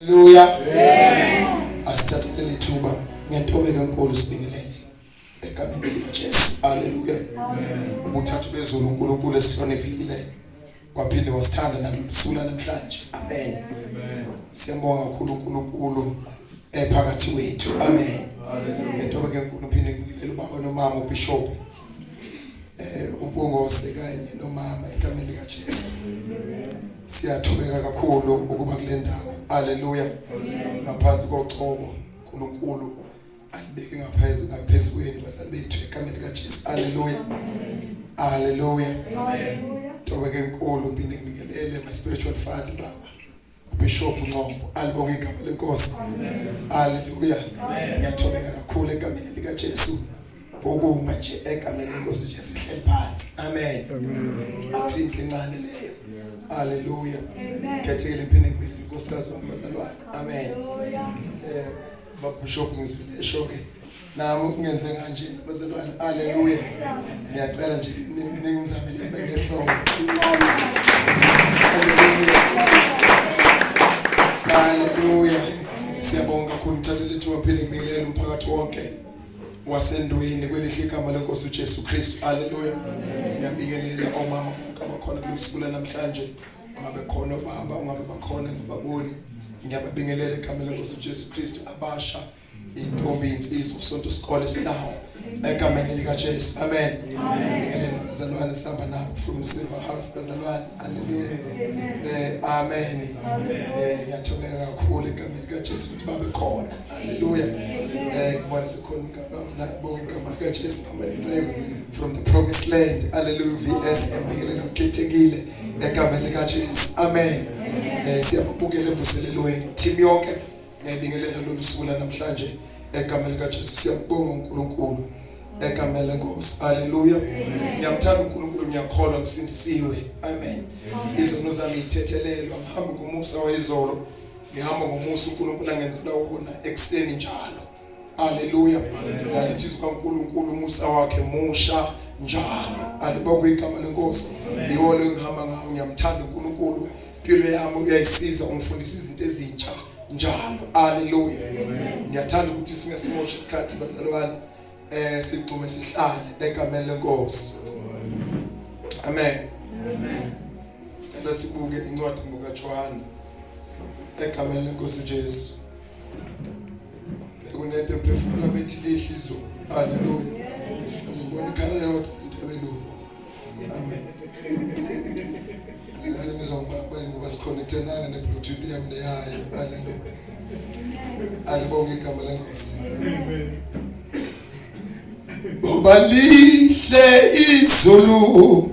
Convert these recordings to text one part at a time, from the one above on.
Haleluya. Asithathe leli thuba ngentobeko enkulu sibingelele egameni likaJesu. Haleluya. Ubuthathu bezulu uNkulunkulu esihloniphile waphinde wasithanda nalusula namhlanje. Amen. Siyambonga kakhulu uNkulunkulu ephakathi wethu. Amen. Haleluya. Ngentobeko enkulu phinde ngibingelele ubaba nomama uBishop. eh umpungose kanye nomama egameni lika Jesu siyathobeka kakhulu ukuba kule ndawo haleluya ngaphansi kocobo uNkulunkulu alibeke ngaphezulu ngaphezulu kwenu bazali bethu egameni lika Jesu haleluya haleluya haleluya tobeke enkulu phinde nginikelele my spiritual father baba Bishop Nqombo alibonge igama lenkosi haleluya ngiyathobeka kakhulu egameni lika Jesu ukuma nje egameni lenkosi nje sihleli phansi amen athi incane leyo haleluya khethekile impini ngibili inkosikazi wami bazalwane amen eh, babishop ngizile esho ke nami ungenze kanje bazalwane haleluya ngiyacela nje ningizamele bengehloko haleluya siyabonga kakhulu ngithathe lethu waphile ngibingelele umphakathi wonke wasendweni kwelihle igama lenkosi uJesu Kristu haleluya ngiyabingelela omama bonke abakhona kusuku namhlanje ngabe khona baba ungabe bakhona ngibaboni ngiyababingelela egameni lenkosi uJesu Kristu abasha intombi insizwa usonto isikole sinawo egameni likaJesu amen ngeke bazalwane sihamba nabo from silver house bazalwane haleluya eh amen eh ngiyathobeka kakhulu egameni likaJesu ukuthi babe khona haleluya eh kubona sekhona ngabona la bonke igama likaJesu hamba nicebo from the promised land haleluya vs ngibingelela ukhethekile egameni likaJesu amen eh siyabukela emvuselelweni team yonke Ngiyabingelela lolu suku lanamhlanje egameni likaJesu siyabonga uNkulunkulu egameni lenkosi haleluya ngiyamthanda uNkulunkulu ngiyakholwa ngisindisiwe amen izono zami ithethelelwa ngihamba ngomusa wayizolo ngihamba ngomusa uNkulunkulu angenzela wona ekseni njalo Haleluya. Ngalithi izwi kaNkulunkulu umusa wakhe musha njalo. Alibonge igama lenkosi. Yiwo lo engihamba ngawo ngiyamthanda uNkulunkulu. Impilo yami uyayisiza ungifundisa izinto ezintsha njalo. Haleluya. Ngiyathanda ukuthi singesimoshi isikhathi bazalwane eh sigxume sihlale egameni lenkosi. Amen. Amen. Cela sibuke incwadi ngokaJohane egameni lenkosi Jesu. bekunento emphefumulo bethi lehla izulu haleluya ngibona ikhala yodwa intabelungu amen ngale ngizongibamba ngoba sikhonektenanga ne-bluetooth yami neyayo haleluya alibonge igama lenkosi ngoba lihle izulu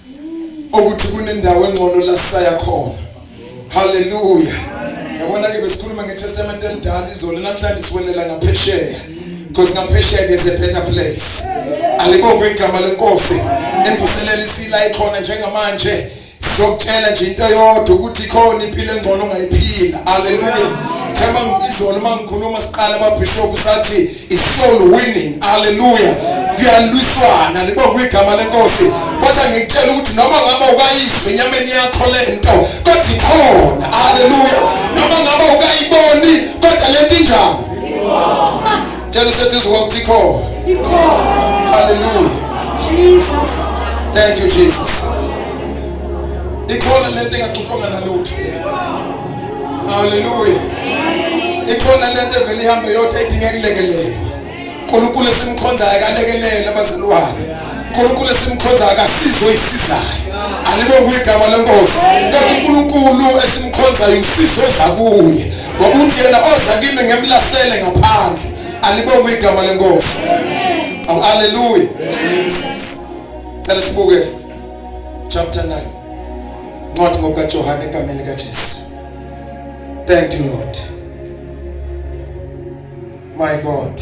ukuthi kunendawo engcono la sisaya khona haleluya yabona ke besikhuluma ngetestament elidala izolo namhlanje siwelela ngaphesheya because ngaphesheya there's a better place alibonge igama lenkosi embuselela isila ikhona njengamanje sokutshela nje into yodwa ukuthi khona impilo engcono ongayiphila haleluya themba izolo mangikhuluma siqala babishop sathi isoul winning haleluya kuyalwiswana libongwa igama lenkosi kodwa ngikutshela ukuthi noma ngabe ukayizwe enyameni yakho le nto kodwa ikhona haleluya noma ngabe ukayiboni kodwa le nto injani tshela useduze kwakho ikhona ikhona haleluya jesus thank you jesus ikhona le nto engaxutshwanga nalutho Hallelujah. Ikhona lento evele ihambe yodwa idinga kulekelela. uNkulunkulu esimkhonzayo akalekelele abazalwane. uNkulunkulu esimkhonzayo akasizo isizayo. Alibonge igama lenkosi. Kodwa uNkulunkulu esimkhonzayo usizo ezakuye. Ngoba uthi yena oza kimi ngemlahlele ngaphandle. Alibonge igama lenkosi. Amen. Hallelujah. Jesus. Cela sibuke chapter 9. Ncwadi ngokukaJohane egameni likaJesu. Thank you Lord. My God.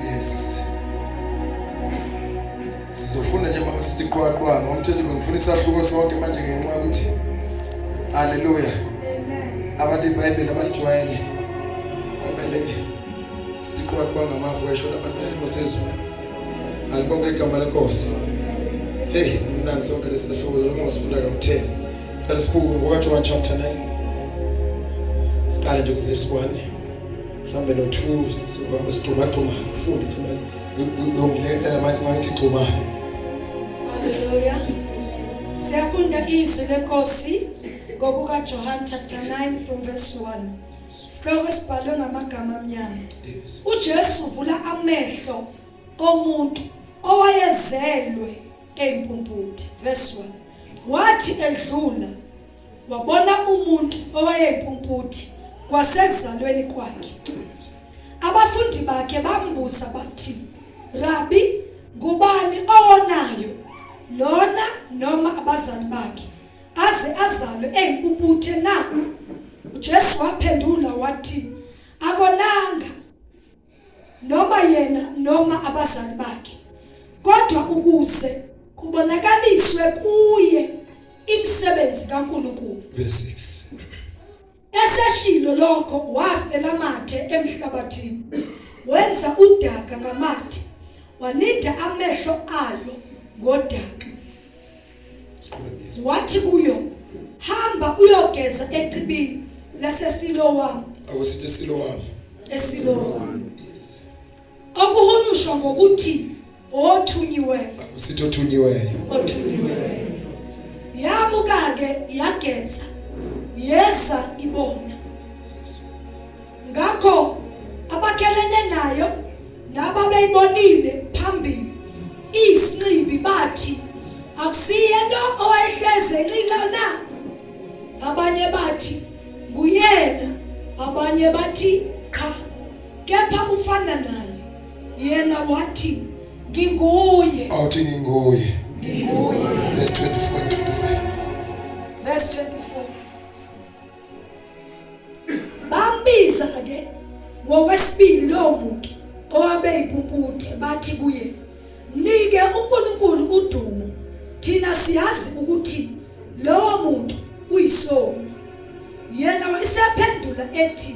Yes. Sizofunda nje mama sithi qwaqwa ngomthetho bengifuna isahluko sonke manje ngenxa ukuthi Hallelujah. Amen. Abantu iBhayibheli abalijwayele. Amen. siqwaqwa ngamafu wayishona abantu besimo sezulu alibonge igama lenkosi heyi mnandi sonke lesi sahluko zaloma ngasifunda kakutheni cela sibuke ngokajohane chapter 9 siqale nje kuvesi 1 mhlawumbe no-2 sizohamba sigxumagxuma ufunde nje uyongilekela manje mangithi gxuma haleluya siyafunda izwi lenkosi ngokukajohane chapter 9 from verse 1 Sihloko esibhalwe ngamagama amnyama. Yes. UJesu uvula amehlo omuntu owayezelwe eyimpumputhe. Verse 1. Wathi edlula wabona umuntu owayeyimpumputhe kwasekuzalweni kwakhe. Abafundi bakhe bambuza bathi, "Rabbi, ngubani owonayo? Lona noma abazali bakhe?" aze azalwe eyimpumputhe na? UJesu waphendula wathi, akonanga noma yena noma abazali bakhe, kodwa ukuze kubonakaliswe kuye imisebenzi kaNkulunkulu. Verse 6. Eseshilo lokho wafela amathe emhlabathini. Wenza udaka ngamathe. Waninda amehlo ayo ngodaka. Wathi kuyo, "Hamba uyogeza echibini laseSilowami." Akusithi Silowami. ESilowami. Okuhunyushwa ngokuthi othunyiweyo. Usithi othunyiweyo. Othunyiweyo. Yamuka ke yageza. Yeza ibona. Ngakho abakhelene nayo nababeyibonile phambili isinxibi bathi akusiyena owayehleze enxila na abanye bathi nguyena abanye bathi kepha kufana naye yena wathi nginguye awuthi nginguye nginguye verse 24 and 25 verse 24 bambiza ke ngokwesibili lowo muntu owabe ipumputhe bathi kuye nike uNkulunkulu udumo thina siyazi ukuthi lowo muntu uyisoni yena wayesephendula ethi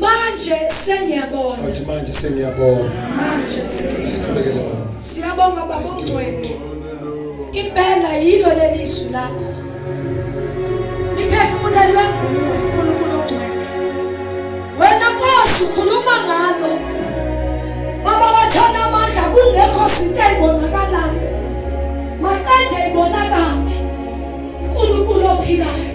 Manje sengiyabona. Athi manje sengiyabona. Manje sikhulekele mama. Siyabonga baba ongcwele. Impela yilo leli izwi lakho. Niphefumulelwe nguwe uNkulunkulu ongcwele. Wena Nkosi ukhuluma ngalo. Baba wathana amandla kungekho sinto ebonakalayo. Maqede ibonakale. uNkulunkulu ophilayo.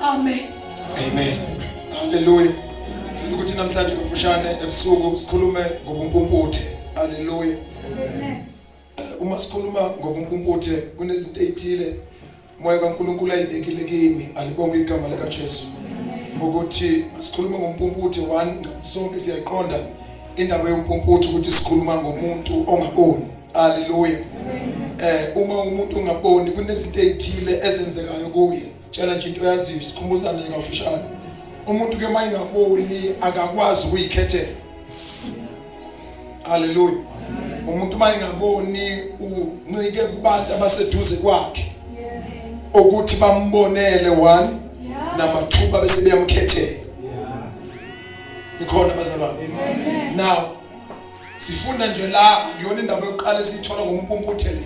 Amen. Amen. Hallelujah. Ngicela ukuthi namhlanje kafushane ebusuku sikhulume ngobumpumputhe. Hallelujah. Amen. Eh, uma sikhuluma ngobumpumputhe kunezinto ezithile moya kaNkuluNkulu ayibekile kimi alibonge igama lika Jesu. Ukuthi sikhuluma ngompumputhe one sonke siyayiqonda indaba yompumputhe ukuthi sikhuluma ngomuntu ongaboni. Hallelujah. Eh uma umuntu ongaboni kunezinto ezithile ezenzekayo kuye. tshela nje into oyaziyo sikhumbuzane kafushane umuntu ke mayingaboni akakwazi ukuyikhethela haleluya umuntu mayingaboni uncike kubantu abaseduze kwakhe ukuthi bambonele one number 2 babe sebeyamkhethela nikhona bazalwane now sifunda nje la ngiyona indaba yokuqala esiyithola ngompumputhe le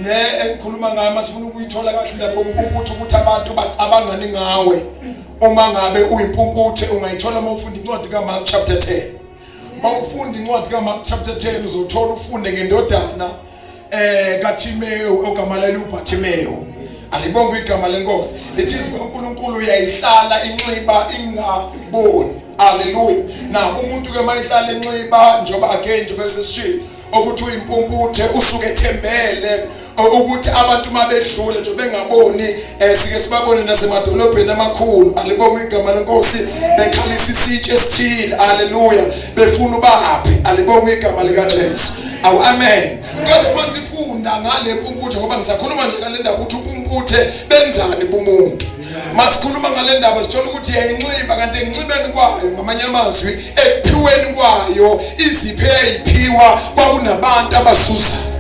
le engikhuluma ngayo masifuna ukuyithola kahle indaba yompumputhe ukuthi abantu bacabangani ngawe uma ngabe uyimpumputhe ungayithola uma ufunda incwadi kamark chapter 10 uma ufunda incwadi kamark chapter 10 uzothola ufunde ngendodana eh kaThimewu ogama leli uBathimewu alibonga igama lenkosi lithi izwi kaNkuluNkulu uyayihlala inxiba ingaboni haleluya na umuntu ke mayihlala inxiba njengoba again njengoba sesishilo ukuthi uyimpumputhe usuke ethembele ukuthi abantu mabedlule nje bengaboni Eh sike sibabone nasemadolobheni amakhulu alibonga igama lenkosi bekhalisa isitshe esithile haleluya befuna ubaphe alibonga igama lika Jesu awu amen kodwa masifunda ngale mpumputhe ngoba ngisakhuluma nje ngale ndaba ukuthi upumputhe benzani bumuntu masikhuluma ngale ndaba sithola ukuthi yayinxiba kanti enxibeni kwayo ngamanye amazwi ekuphiweni kwayo iziphe yayiphiwa kwakunabantu abasuzayo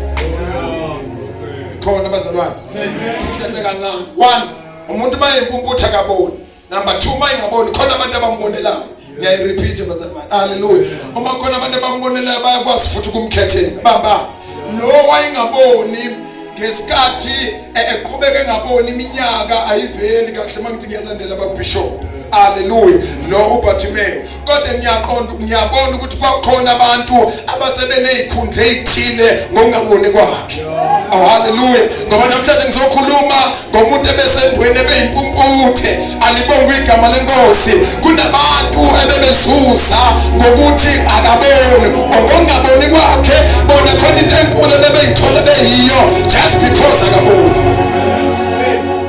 khona abazalwane Sihleze kancane. One, umuntu uma impumputha kaboni. Number 2 uma ingaboni khona abantu abambonelayo. Ngiyayirepeat bazalwane. Hallelujah. Uma khona abantu abambonelayo bayakwazi futhi ukumkhethela. Bamba. Lo wayengaboni ngesikhathi e, eqhubeke ngaboni iminyaka ayiveli kahle mangithi ngiyalandela ababishop. Hallelujah. Lo uBartimayo kodwa ngiyaqonda ngiyabona ukuthi kwakhona abantu abasebeney'khundla ey'thile ngokungaboni kwakhe oh haleluya ngoba namhlanje ngizokhuluma ngomuntu ebesendweni ebeyimpumputhe alibonga igama lenkosi kunabantu ebebezuza ngokuthi akaboni ongongaboni kwakhe bona khona into enkulu ebebeyithole beyiyo just because akaboni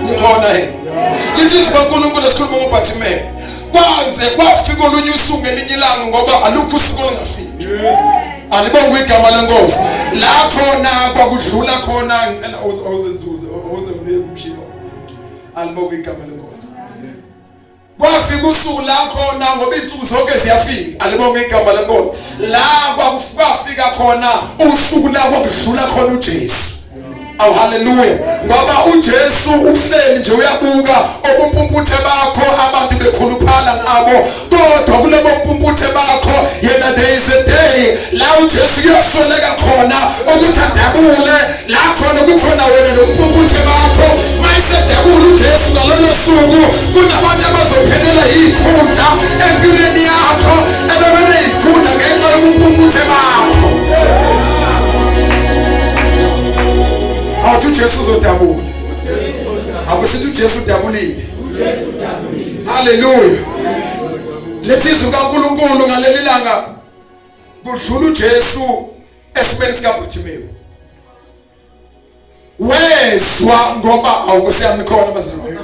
nikhona he lithi izwi kankulunkulu esikhuluma ngobhathimele kwanze kwafika olunye usuku ngelinye ilanga ngoba alukho usuku olungafiki alibongwe igama lenkosi la khona kwakudlula khona ngicela ozenzuze oze ubuye kumshilo alibongwe igama lenkosi kwafika usuku la khona ngoba insuku zonke ziyafika alibonge igama lenkosi la kwafika khona usuku la kwakudlula khona uJesu awu haleluya ngoba uJesu uhleli nje uyabuka obumpumputhe bakho abantu bekhuluphala ngabo kodwa kulabo mpumputhe bakho yena there is a day la uJesu kuyosoleka khona ukuthi adabule la khona kukhona wena nompumputhe bakho mayisedabula uJesu ngalolo suku kunabantu abazophelela yikhundla empilweni yakho ebebene yikhundla ngenxa yompumputhe bakho awuthi uJesu uzodabula akusithi uJesu udabulile haleluya lethi izwi kaNkuluNkulu ngaleli langa kudlula uJesu esimeni sikaBhuthimewu wezwa ngoba awukuseyamkhona bazalwane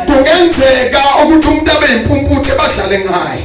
kungenzeka ukuthi umuntu abe impumputhe badlale ngaye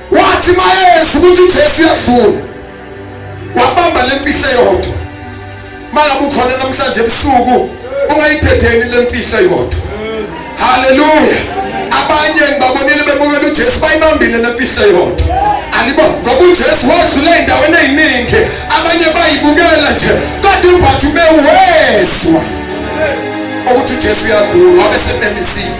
Wathi mayeza ukuthi uJesu uyadlula wabamba le mfihlo yodwa mangabe ukhona namhlanje ebusuku ungayidedeni le mfihlo yodwa haleluya abanye ngibabonile bebukela ujesu bayibambile le mfihlo yodwa alibo ngoba ujesu wadlula ey'ndaweni ey'ningi abanye bayibukela nje kodwa umphathi ubewezwa ukuthi ujesu uyadlula wabe sememisile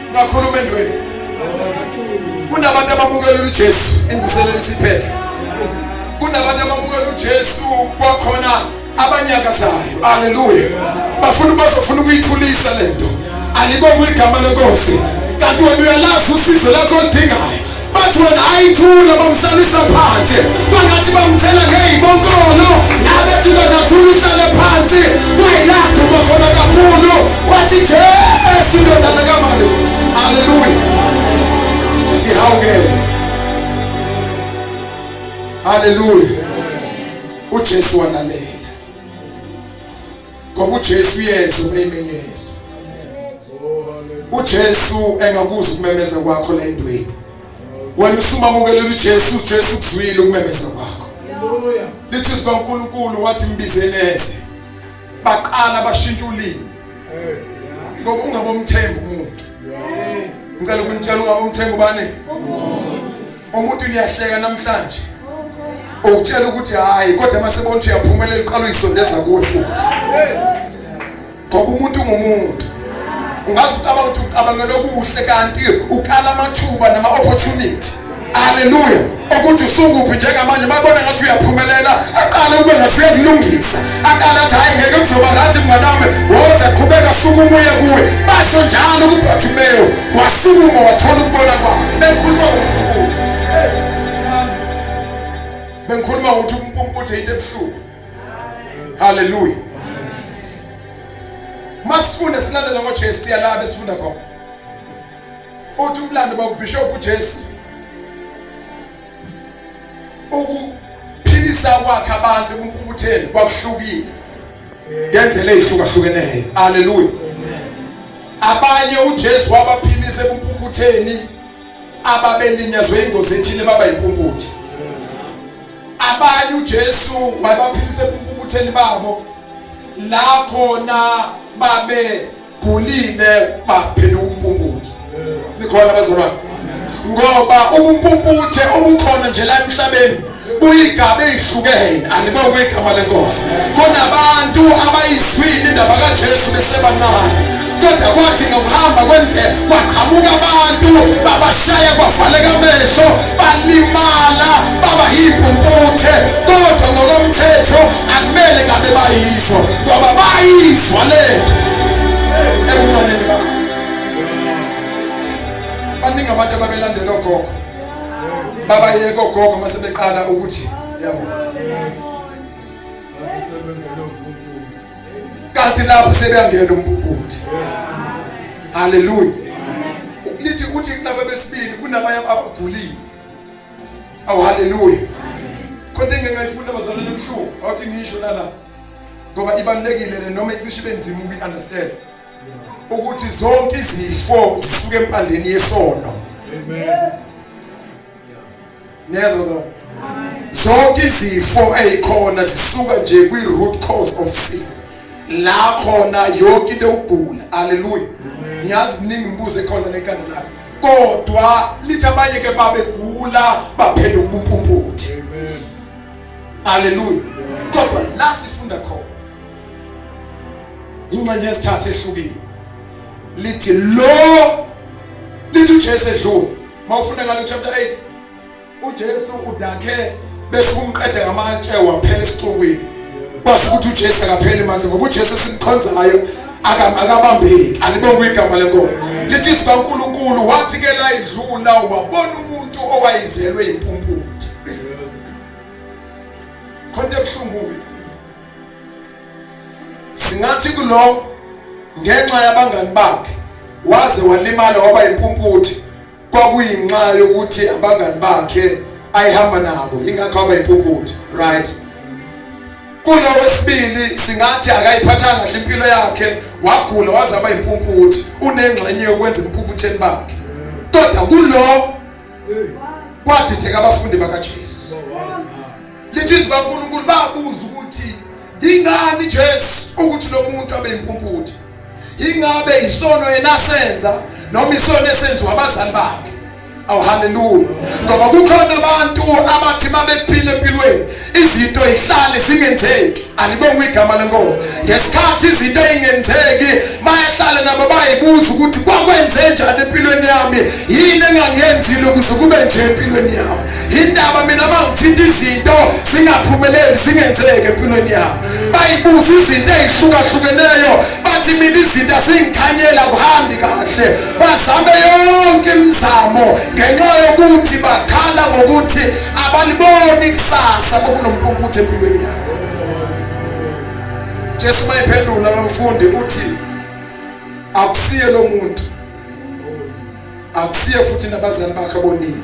Ungakhuluma endweni. Kunabantu abamukela uJesu engiselele isiphethe. Kunabantu abamukela uJesu kwakhona abanyakazayo. Haleluya. Bafuna bazofuna ukuyithulisa lento. Alibonga igama lenkosi. Kanti wena uyalazi usizo lakho olidingayo. Bathi wena ayithula bamhlalisa phansi bangathi bamthela ngey'bonkolo nabethi kanathula uhlale phansi kwayilapho bakhona kakhulu wathi jesu indodana kamali aleluya ihawukele aleluya ujesu wanalela ngoba uJesu uyezwa umeyimenyezo uJesu engakuzwa ukumemeza kwakho la endweni wena usumamukelela uJesu uJesu ukuzwile ukumemeza kwakho lithi izwi kaNkulunkulu wathi mbizeleze baqala bashintsha ulimi ngoba ungabomthemba umuntu ngicela ukunitshela ungabomthemba ubani umuntu umuntu niyahleka namhlanje ukutshela ukuthi hayi kodwa uma sebona ukuthi uyaphumelela uqala uyisondeza kuwe futhi ngoba umuntu ungumuntu ungaze ucabanga ukuthi ucabangela okuhle kanti ukala amathuba nama-opportunity aleluya ukuthi usukuphi njengamanje babona ngathi uyaphumelela aqale ube ngathi uyakulungisa akalathi hayi ngeke kuzoba right mnganami woza qhubeka suka umuye kuwe basho njalo kubartimeyo wasukuma wathola ukubona kwakhe bengikhuluma ngokuthi bengikhuluma ukuthi umpumputhi into ebuhlungu haleluya masifunde silandela ngojesu siyalaba esifunda khona uthi umlando bakubhishophu ujesu ukuphilisa kwakhe abantu kumpukutheni kwakuhlukile ngendlela ezihlukahlukeneyo haleluya abanye uJesu wabaphilisa kumpukutheni ababelinyazwe ingozi ethile baba impumputhe abanye uJesu wabaphilisa kumpukutheni babo la khona babe gulile baphenduka umpumputhe nikhona abazalwane ngoba ubumpumputhe obukhona nje la emhlabeni buyigaba ezihlukene anibonge kwegama lenkosi kunabantu abayizwile indaba kaJesu besebancane kodwa kwathi ngokuhamba kwendlela kwaqhamuka abantu babashaya kwavaleka amehlo balimala baba yimpumputhe kodwa ngokomthetho akumele ngabe bayizwa ngoba bayizwa lento ebufaneni bakho baningi abantu ababelandela ogogo babayeka ogogo uma sebeqala ukuthi yabo kanti lapho sebeyangena umpuphuthi haleluya lithi uthi kunabo besibili kunabanye abagulile awu haleluya khona engeke ngayifunda bazalwane emhlungu awuthi ngisho nalapho ngoba ibalulekile le noma icishe ibe nzima ukuyi-understand ukuthi zonke izifo zisuke empandeni yesono niyezwa zona zonke izifo eyikhona zisuka nje kwi-root cause of sin la khona yonke into yokugula haleluya ngiyazi kuningi imibuzo ekhona lekhanda lakho kodwa lithi abanye ke babegula baphenduka ubumpumputhi Haleluya. Kodwa la sifunda khona ingxenye yesithathu ehlukile lithi lo lithi uJesu edlule mawufunda ngalo chapter 8 uJesu udakhe bese umqede ngamatshe waphela esixukwini kwasho ukuthi uJesu akapheli manje ngoba uJesu simkhonzayo akabambeki alibonga igama lenkosi lithi izwi kaNkulunkulu wathi ke la idlula wabona umuntu owayizelwe impumputhe khonto ebuhlungu-ke singathi kulo ngenxa yabangani bakhe waze walimala waba yimpumputhe kwakuyinxa yokuthi abangani bakhe ayihamba nabo ingakho waba yimpumputhe right kulo wesibili singathi akayiphathanga kahle impilo yakhe wagula waze waba yimpumputhe unengxenye yokwenza impumputheni bakhe kodwa kulo kwadideka abafundi bakaJesu lithi izwi kaNkulunkulu babuza ukuthi ingani Jesu ukuthi lo muntu abe impumputhe ingabe isono enasenza noma isono esenziwa abazali bakhe awu haleluya ngoba kukhona abantu abathi mabephile empilweni izinto ihlale zingenzeki alibonga igama lenkosi ngesikhathi izinto ingenzeki bayahlala nabo bayibuza ukuthi kwakwenze njani empilweni yami yini engangenzile ukuze kube nje empilweni yami indaba mina mangithinta izinto zingaphumeleli zingenzeki empilweni yami bayibuza izinto ezihlukahlukeneyo bathi mina izinto asingikhanyela kuhambi kahle bazame yonke imizamo ngenxa yokuthi bakhala ngokuthi abaliboni kusasa bokunompumputhe empilweni yabo jesu uma ephendula lomfundi uthi akusiye lo muntu akusiye futhi nabazali bakhe bonile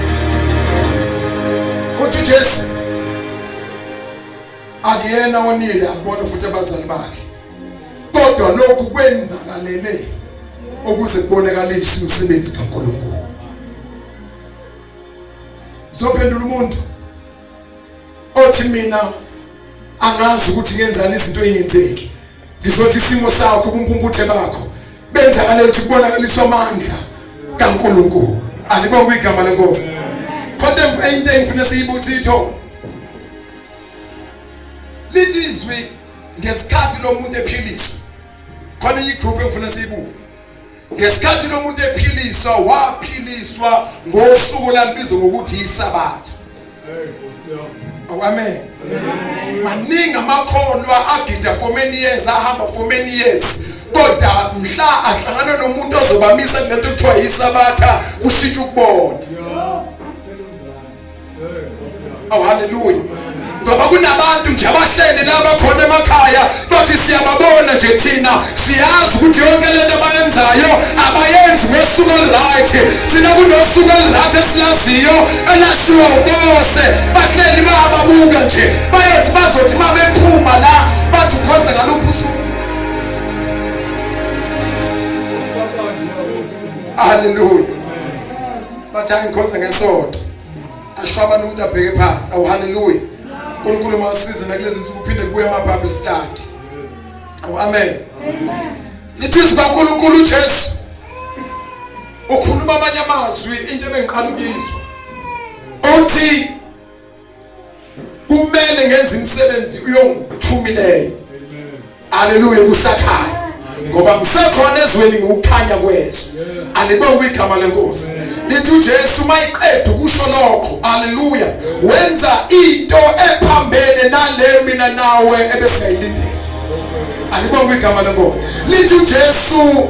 Uthi Jesu akuyena onile akubona futhi abazali bakhe. Kodwa lokhu kwenzakalele ukuze kubonakalise umsebenzi kaNkulunkulu. Zophendula umuntu othi mina angazi ukuthi ngenzani izinto eyenzeki ngizothi isimo sakho ubumpumputhe bakho benzakale ukuthi kubonakaliswa amandla kaNkulunkulu alibonga igama lenkosi kodwa into engifuna siyibuthi itho lithi izwi ngesikhathi lomuntu ephiliswa khona igroup engifuna siyibuke ngesikhathi lo muntu ephiliswa waphiliswa ngosuku lalibizwa ngokuthi yisabatha amen maningi amakholwa agida for many years ahamba for many years kodwa mhla ahlangana nomuntu ozobamisa kulento kuthiwa yisabatha kushintsha ukubona Oh haleluya. Ngoba kunabantu nje abahleli laba khona emakhaya bathi siyababona nje thina siyazi ukuthi yonke lento abayenzayo abayenzi ngosuku olright thina kunosuku olright esilaziyo elashiwo ubose bahleli bayababuka nje bayothi bazothi uma bephuma la bathi ukhonza ngaluphi usuku haleluya bathi hayi ngikhonza ngesonto ashwaba nomuntu abheke phansi awu haleluya uNkulunkulu mawusize nakulezi nsuku uphinde kubuye ama Bible study awu amen lithi izwi kaNkulunkulu uJesu ukhuluma amanye amazwi into ebengiqala ukuyizwa uthi kumele ngenze imisebenzi uyongithumileyo haleluya kusakhaya ngoba kusekhona ezweni ngokukhanya kweso alibonge igama lenkosi lithi uJesu mayiqeda ukusho lokho haleluya wenza into ephambene nale mina nawe ebesiyilindele alibonge igama lenkosi lithi uJesu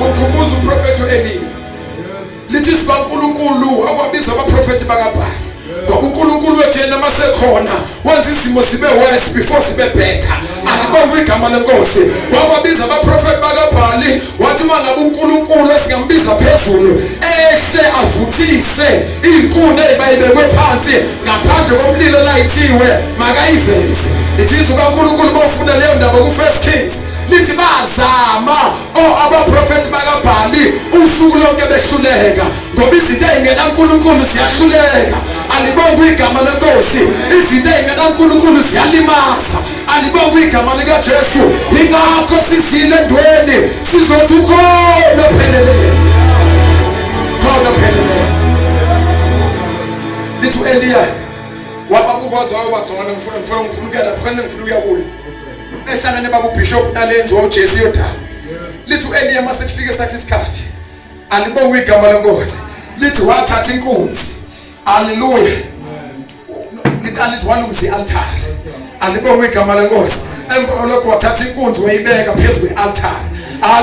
Ukhumbuza uprofethi uEliya. Lithi siba uNkulunkulu wakwabiza abaprofethi bakaBhali. ngokuNkulunkulu wethu yena masekhona wenza izimo zibe worse before sibe better akubonga igama lenkosi wababiza abaprofeti bakabhali wathi uma ngabe uNkulunkulu esingambiza phezulu ehle avuthise inkuni ebayibekwe phansi ngaphandle komlilo layithiwe makayiveze ithi uNkulunkulu bofuna leyo ndaba ku First Kings lithi bazama o oh, abaprofeti bakabhali usuku lonke behluleka ngoba izinto ey'ngenankulunkulu ziyahluleka alibonge igama lenkosi izinto ey'ngenankulunkulu ziyalimaza alibonge igama likajesu yingakho sizile ndweni sizothi ukhona opheleleyo khona opheleleyo lithi u-eliya wababuka waze wayobagcona ngifuna ngifuna ngifuna ukuya lapho kanti ngifuna ukuya kuyo ehlangane bakubishop nalenzi wawujesu yodala lithi u-eliya uma sekufike sakhe isikhathi alibonge igama lenkosi lithi wathatha inkunzi aleluya lithi walungisa i-altari alibonge igama lenkosi emva kwalokho wathatha inkunzi wayibeka phezu kwe-altari